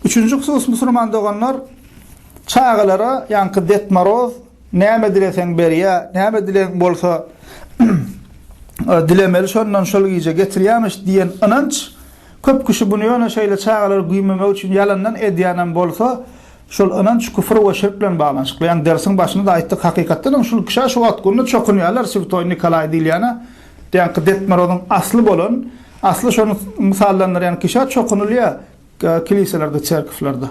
Üçünji husus musulman doganlar çagalara ýaňky Ded Moroz näme dileseň berýä, näme dileň bolsa dilemeli şondan şol gije getirýämiş diýen ynanç köp kişi bunu ýöne şeýle çagalary güýmemek üçin ýalandan edýänem bolsa şol ynanç küfür we şirk bilen baglanyşykly. Ýani dersiň başynda da aýtdyk hakykatdan hem şul kişä şu wagt günde çokunýarlar Swtoý Nikolaý diýilýäne Däki Detmorozyň asly bolan, asly şony mysallandyrýan kişä çokunylýar kiliselerde, çerkewlerde.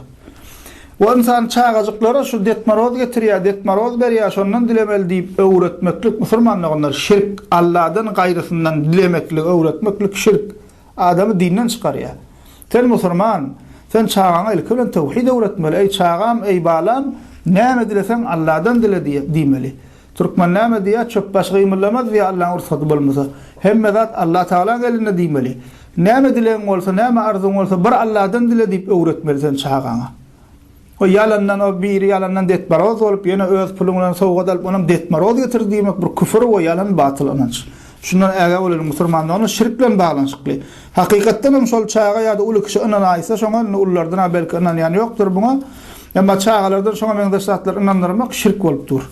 O ynsany çagajyklara şu Detmoroz getirýär, Detmoroz berýär, şondan dilemeli diýip öwretmeklik musulman doganlar, şirk, Alladan gaýrysyndan dilemekligi öwretmeklik şirk, adamy dinden çykarýar. Sen musulman, sen çagaňa ilki bilen töwhid öwretmeli, eý çagam, eý balam, näme dileseň Alladan dile diýmeli. Türkmen näme diýýär, Çöp daşy gymyllamaz diýýär Allaň rugsady bolmasa. Hemme zat Allatagalaň elinde diýmeli. Näme dilegiň bolsa, näme arzuwyň bolsa bir Alladan dile diýip öwretmeli sen çagaňa. O ýalandan o biri ýalandan detmaroz bolup ýene öz puluň bilen sowgat alyp onam detmaroz getirdi diýmek bir küfür we ýalan batyl ynanç. Şundan ägä bolalyň musurmandoganlar şirk bilen baglanyşykly. Hakykatdanam şol çaga ýa-da uly kişi ynanaýsa şoňa indi ulylardan-a belki ynanýan ýokdur buňa. Emma çagalardan şoňa meňzeş zatlary ynandyrmak şirk bolup dur.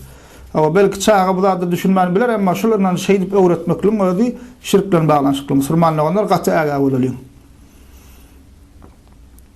Hawa, belki çaga bu zada düşünmän biler, emma şol ynanjy şeýdip öwretmekligiň özi şirk bilen baglanyşykly. Musulman doganlar gaty ägä bolalyň.